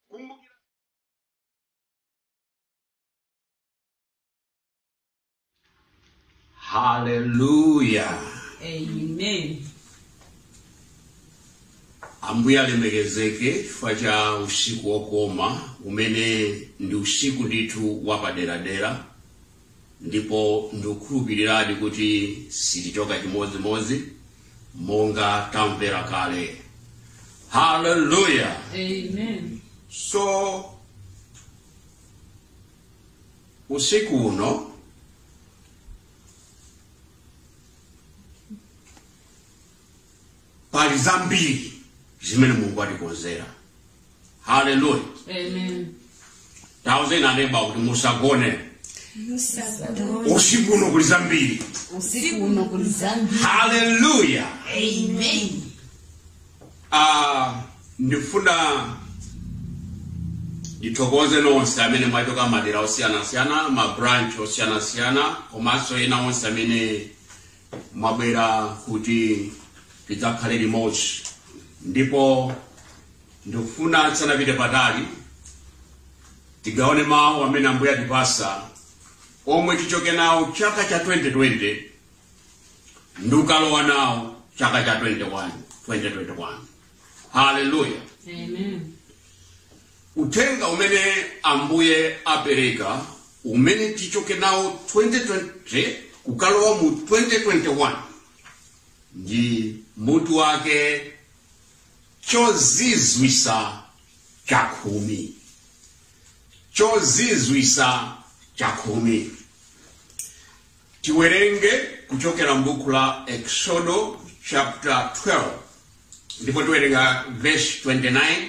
kumbukira haleluya Amen. ambuye alemekezeke chifukwa cha usiku wokoma umene ndi usiku ndithu wapaderadera ndipo ndikukhulupiriradi kuti sitichoka chimodzimodzi monga tamvera kale haleluya Amen. so usiku uno pali zambiri zimene mulungu atikonzera haleluya Amen. tauzeni a neba kuti musagone usiku uno kuli zambiri usiku uno kuli zambiri haleluya Amen. Ah, ndifuna ndithokoze nonse amene mwachoka madera osiyanasiyana mabranch osiyanasiyana komanso ena onse amene mwabwera kuti tidzakhale limodzi ndipo ndikufuna tisanapite patali tigawane mawu amene ambuye atipasa omwe tichoke nawo chaka cha 2020 ndi kukalowa nawo chaka cha 21 2021 haleluya Amen. Uthenga umene Ambuye apereka umene tichoke nawo 2020 kukalowa mu 2021 ndi mutu wake chozizwisa chakhumi chozizwisa chakhumi tiwerenge kuchokera mbuku la exodo chapter 12 ndipo tiwerenga verse 29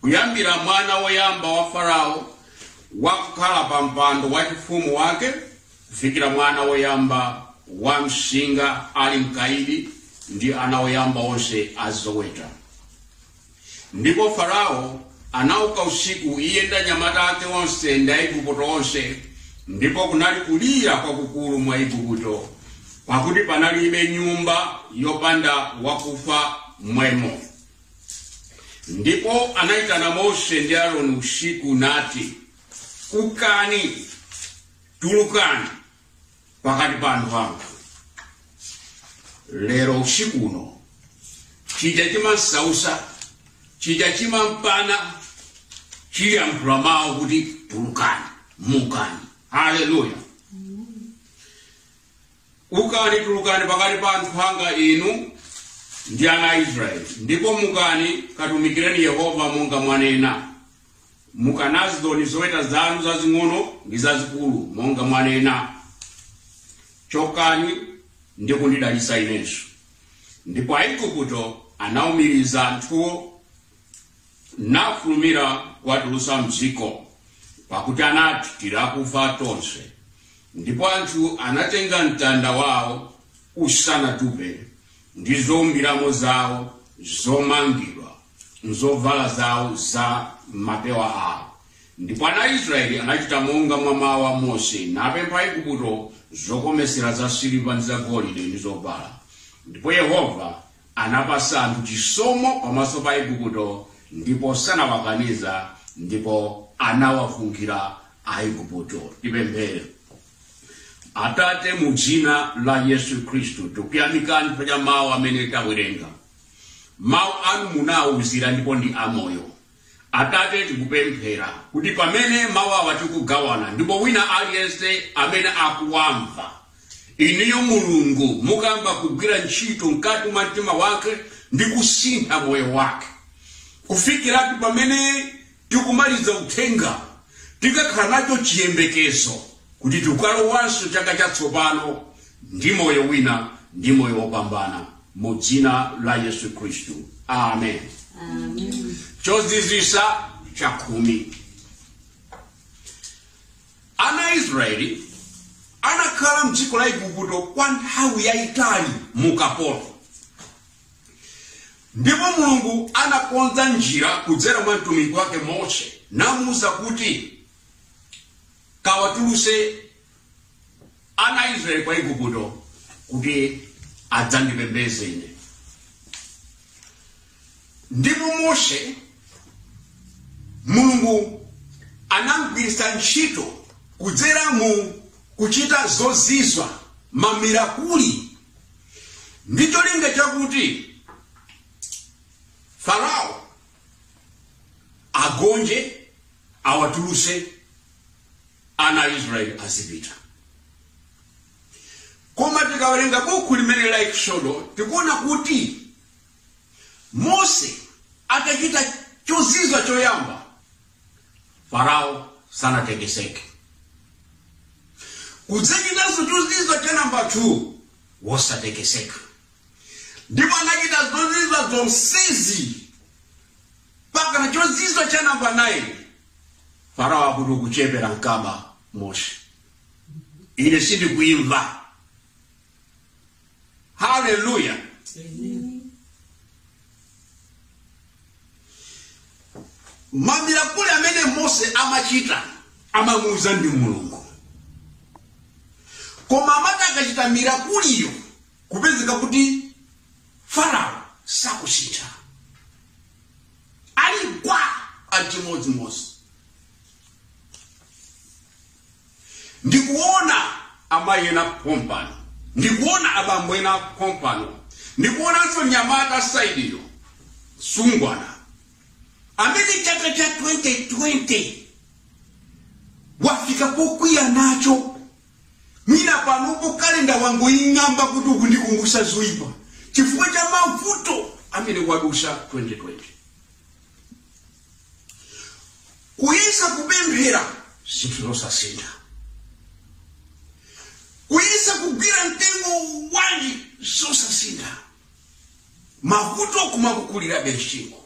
kuyambira mwana woyamba wa farao wakukhala pa mpando wachifumu wake kufikira mwana woyamba wa mnsinga ali mkaidi ndi ana oyamba onse a zoweta ndipo farao anauka usiku iye ndi anyamata ake onse ndi aigupto onse ndipo kunali kulira kwakukulu mu aigupto pakuti panalibe nyumba yopanda wakufa mmwemo Ndipo anaitana Mose ndi Aroni usiku nati, Ukani, tulukani pakati pa anthu anga. Lero usiku uno chija chimansausa chija chimampana chiyankhula mawu kuti tulukani mukani haleluya ukani tulukani pakati pa anthu anga inu ndi ana a israeli ndipo mukani katumikireni yehova monga mwanena mukanazonso zoweta zanu zazing'ono ndi zazikulu monga mwanena chokani ndi kundidalitsa inenso ndipo aigupto anaumiriza anthuwo nafulumira kuwatulutsa mdziko pakuti anati tili akufa tonse ndipo anthu anatenga mtanda wawo usanatupe ndi zoumbiramo zawo zomangidwa mzovala zawo za mmapewa awo ndipo ana a israeli anachita monga mwa mawu a mose napempha aigupto zokomesera za siliva ndi za golide ndi zovala ndipo yehova Anapasa anthu chisomo pamaso pa Aigupto, ndipo sanawakaniza, ndipo anawafunkhira Aigupto. Tipemphere. Atate, mu dzina la Yesu Khristu, tikuyamikani chifukwa cha mawu amene tawerenga. Mawu anu munawuzira ndipo ndi amoyo. Atate, tikupemphera kuti pamene mawu awa tikugawana ndipo wina aliyense amene akuwamva, inuyo Mulungu mukayamba kugwira ntchito mkati mwa mtima wake ndi kusintha moyo wake kufikira kuti pamene tikumaliza uthenga tikakhala nacho chiyembekezo kuti tikalowanso chaka chatsopano ndi moyo wina ndi moyo wopambana mu dzina la yesu khristu amen chozizwisa chakhumi ana a israeli anakhala mdziko la igupto kwa nthawi yayitali mu ukapolo ndipo mulungu anakonza njira kudzera mwa mtumiki wake mose namuwuza kuti kawatuluse ana a Israeli kwa Igupto kuti adzandipembeze ine. Ndipo Mose Mulungu anamgwiritsa ntchito kudzera mu kuchita zozizwa mamirakuli ndi cholinga chakuti Farao agonje awatuluse ana a israeli azipita koma tikawerenga buku limeneli la eksodo tikuona kuti mose atachita chozizwa choyamba farao sanatekeseke kudzachitanso chozizwa cha namba 2 wosatekeseka ndipo anachita zozizwa zonsezi mpakana chozizwa cha namba 9 farao akuti ukuchepera mkaba mose ine sindikuimva haleluya mamirakuli amene mose amachita amamuuza ndi mulungu koma amati akachita mirakuliyo kumapezeka kuti farao sakusintha ali gwa achimodzimodzi ndikuona amayi ena pompano ndikuona abambo ena pompano ndikuonanso nyamata saidiyo sungwana amene chaka cha 2020 wafika pokwiya nacho Mwina panopo calendar wangoing'amba kuti ukundikumbutsa zoipa chifukwa cha mavuto amene wadusa 2020. Kuyesa kupemphera zinthu zosasintha, kuyesa kugwira mtengo wanji zosasintha, mavuto kumakukulirabe m'chingo.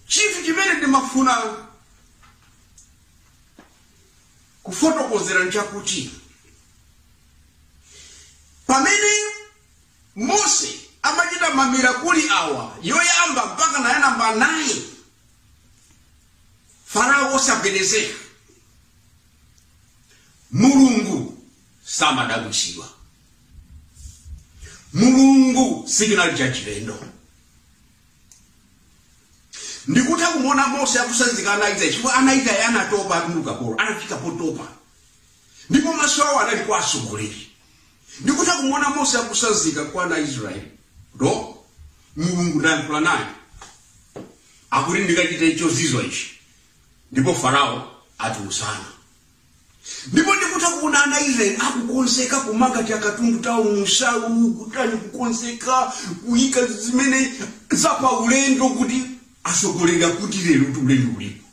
chinthu chimene ndimafuna kufotokozera nchakuti pamene mose amachita mamirakuli awa yoyamba mpaka naye namba 9 farao osagwedezeka mulungu samadabwitsidwa mulungu sikinali cha chilendo ndikutha kumuona mose akusanzika ana israeli chifukwa ana israeli anatopa ali mukapolo anafika potopa ndipo maso awo anali kwa atsogoleri ndikutha kumuona mose akusanzika kwa ana israeli do mulungu ndayankhula naye akuti ndikachite chozizwa ichi ndipo farao atiusana ndipo ndikutha kuona ana israeli akukonzeka kumanga takatundu tawo mumsalu kutani kukonzeka kuyika zimene zapa ulendo kuti asogoleri akuti lerotu ulendo ulipo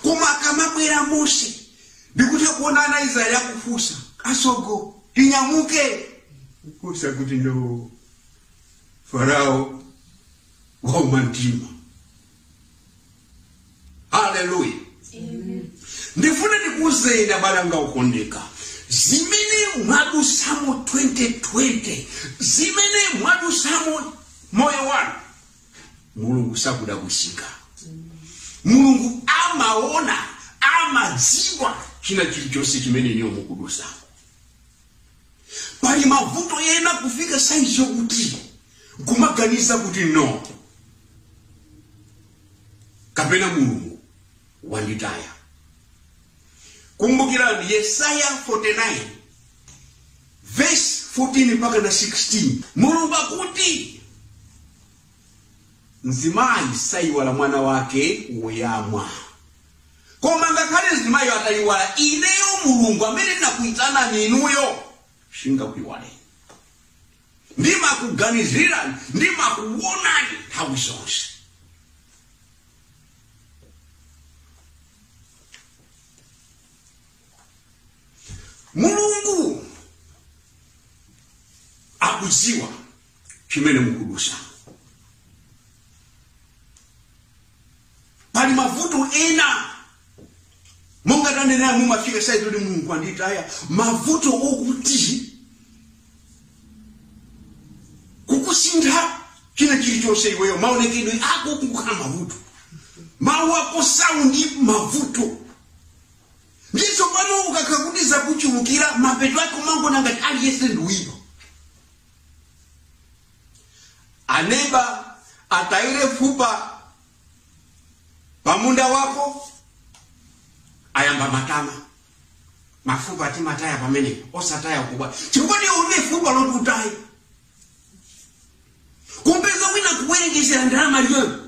koma akamabwera mose ndikutha kuona ana israeli akufunsa asogo tinyamuke kufunsa kuti no farao wauma mtima haleluya ndifuna ndikuuzeni abale anga okondeka zimene mwadusamo 2020 zimene mwadusamo moyo wanu mulungu sakudabwitsika mulungu amaona amadziwa china chilichonse chimene inuyo mukudusamo pali mavuto ena kufika saizi yokuti kumaganiza kuti no kapena mulungu wanditaya kumbukirani yesaya 49 verse 14 mpaka na 16 mulungu akuti mzimayi saiwala mwana wake woyamwa Koma ngakhale mzimayiyo atayiwala, ineyo Mulungu amene ndinakuyitanani inuyo sindingakuyiwaleni. Ndimakuganizirani, ndimakuwonani nthawi zonse. Mulungu akudziwa chimene mukudusa. pali mavuto ena monga tanenera mumafika saizi yoti mulungu anditaya mavuto okuti kukusintha china chilichonse iweyo maonekedwe ako kukhala mavuto mawu ako saundi mavuto ndizo pano ukakhala kuti zakuchulukira mapeto ake umangoona ngati aliyense ndi woipa aneba ataye fupa pamunda wako ayamba matama mafupa timataya pamenepo osataya kukubwa chifukwa iwe ulibe fupa loti utaye kumpeza wina akuwerengera ndalama liyoyo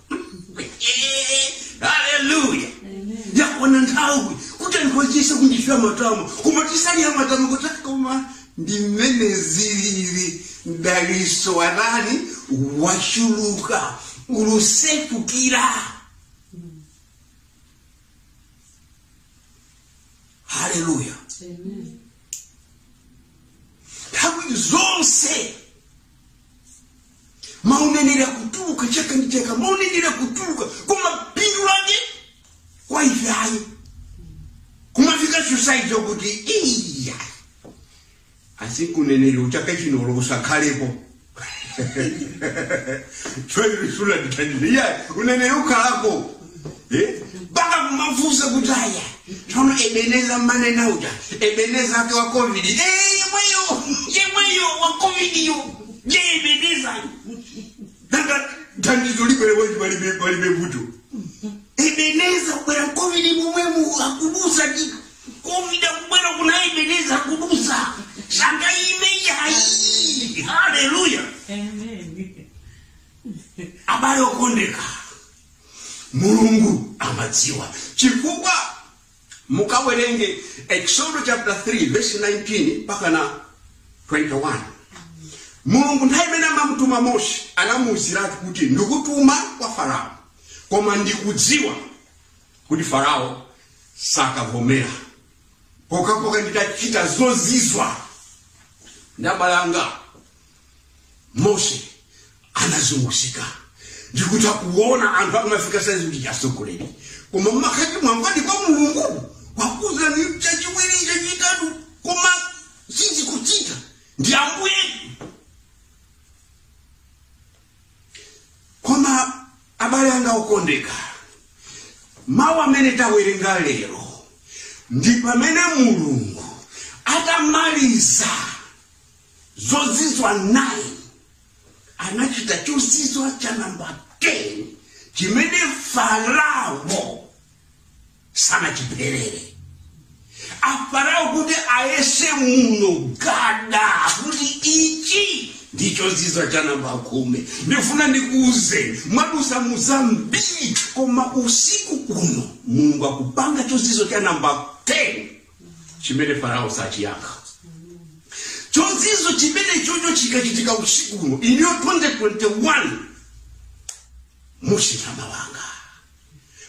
haleluya yakwana nthawi kuti anthu achise kuchita matama koma sali matama kuti koma ndi mmene zilili mdaliso watani wachuluka ukusefukira haleluya nthawi zonse mauneneri akutuluka chaka ndi chaka mauneneri akutuluka koma phindu lake kwa ife ayi kumafika saizi yokuti iya asi uneneri wa chaka chinowo usakhalepo chwalilisula ndithandize iya uneneri ukhalako Eh? mpaka kumafunsa kuti aya tsono ebeneza mmanena uja ebeneza ake wa covid Eh, yemweyo yemweyo wa covid yo ebeneza nanga thandizo libwere wezi palibe palibe vuto ebeneza kubwera covid momwemo akudutsa ndi covid akubwera kuno ebeneza akudutsa sangaime yayi haleluya Amen. abale okondeka mulungu amadziwa chifukwa mukawerenge exodo chapter 3 verse 19 mpaka na 21 mulungu nthawi imene amamutuma mose anamuwuziratu kuti ndikutuma kwa farao koma ndikudziwa kuti farao sakavomera pokhapokha nditachita zozizwa ndi dzanja langa mose anazunguzika ndikuti akuona anthu akumafika saizi kuti chasogoleri koma mmakati mwangwadi kwa mulungu wakuuza ni chachiwiri chachitatu koma sizikuchita ndi ambuye koma abale anga okondeka mawu amene tawerenga lero ndi pamene mulungu atamaliza zozizwa 9 anachita chozizwa cha namba 10 chimene farao sanachipirire afarao kuti ayese muno gada kuti ichi ndi chozizwa cha namba khumi ndifuna ndikuuze mwadusa mu zambiri koma usiku uno mulungu akupanga chozizwa cha namba 10 chimene farao sachiyankha chozizwa chimene choncho chikachitika usiku uno iniyo 2021 muchitama wanga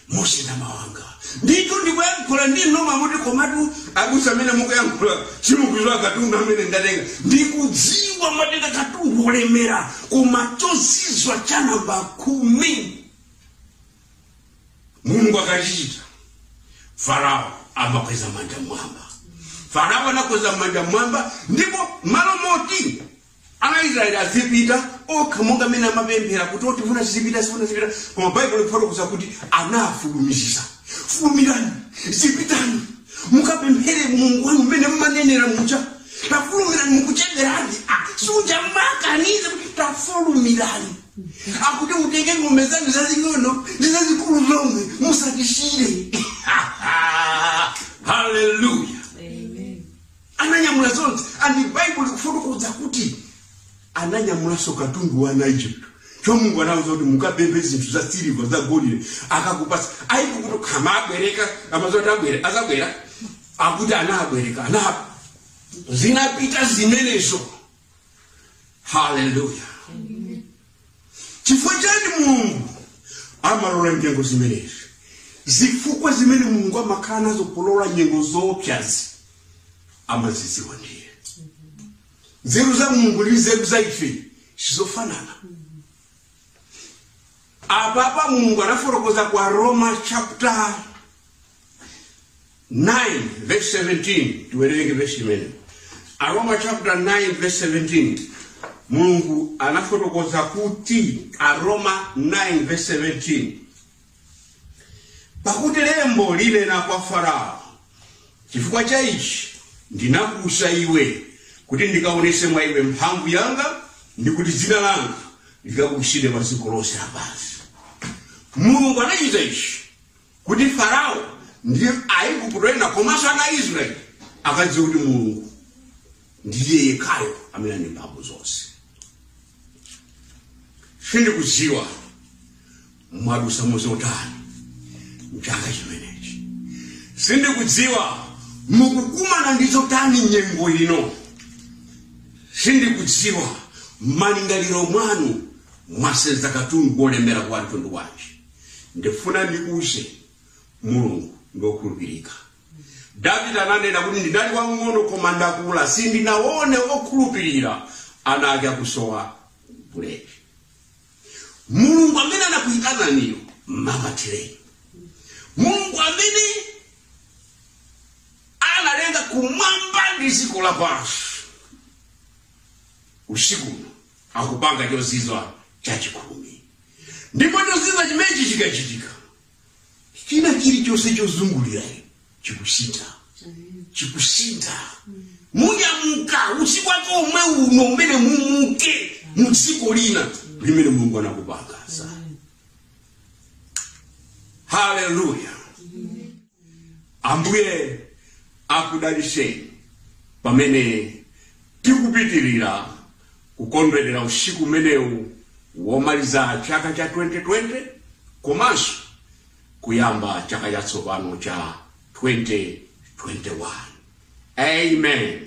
muchitama wanga ndito ndikuyankhula ndi ndi inu mwamuti komatu abusa amene mukuyankhula simukudziwa katundu amene ndatenga ndikudziwa mwatenga katundu wolemera koma chozizwa cha namba khumi mulungu akachichita farao amakweza manja mwamba farao anakweza manja mwamba ndipo malo moti ana israeli azipita okha monga amene amapemphera kuti oti tifuna tizipita tifuna tizipita koma baibulo lifotokoza kuti anafulumizisa fulumirani zipitani mukapemphere mulungu wanu mmene mmanenera muja tafulumirani mukuchedweranji siuja mmakaniza kuti tafulumirani akuti mutenge ng'ombe zanu zazing'ono ndi zazikulu zomwe musatishire haleluya ananyamula zonse and baibulo likufotokoza kuti ananyamulanso katundu wa aigupto choncho mulungu anauza kuti mukapemphe zinthu za siliva za golide akakupasa aike kuti ngati akubwereka amazoti abwere azabwera akuti anabwereka ana zinapita zimenezo haleluya chifukwa chani mulungu amalola nyengo zimenezi zifukwa zimene mulungu amakhala nazo kulola nyengo zoopsazi amazidziwa ndi iye nzeru za mulungu ndi nzeru za ife sizofanana apapa mulungu anafotokoza kwa aroma chapter 9 verse 17 tiwerenge verse imene aroma chapter 9 verse 17 mulungu anafotokoza kuti aroma 9 verse 17 pakuti lembo linena kwa farao chifukwa cha ichi ndinakuutsa iwe kuti ndikaonese mwa iwe mphamvu yanga ndi kuti dzina langa likabukitsidwe pa dziko lonse lapansi mulungu anachita ichi kuti farao ndi aigupto ena komanso ana a israeli akadziwe kuti mulungu ndiye yekhayo amene ali ndi mphamvu zonse sindikudziwa mwadutsa mu zotani mchaka chimenechi sindikudziwa mukukumana ndi zotani nyengo ino sindikudziwa malingaliro mwanu mwasenza katundu wolemera wa mtundu wanji ndifuna ndikuuzeni mulungu ndi okhulupirika davide ananena kuti ndinali wang'ono koma ndakula sindinaone okhulupirira ana ake akusowa buledi mulungu amene anakuyitananiyo mumamatireni mulungu amene analenga kumwamba ndi dziko lapansi usiku uno akupanga chozizwa chachikumi ndipo chozizwa chimenechi chikachitika china chilichonse chozungulira inu chikusintha chikusintha munyamuka usiku wake omwe uno umene mumuke mu dziko lina limene mulungu anakupangirani haleluya ambuye akudalitseni pamene tikupitirira kukondwerera usiku umenewu womaliza chaka cha 2020 komanso kuyamba chaka chatsopano cha 2021 amen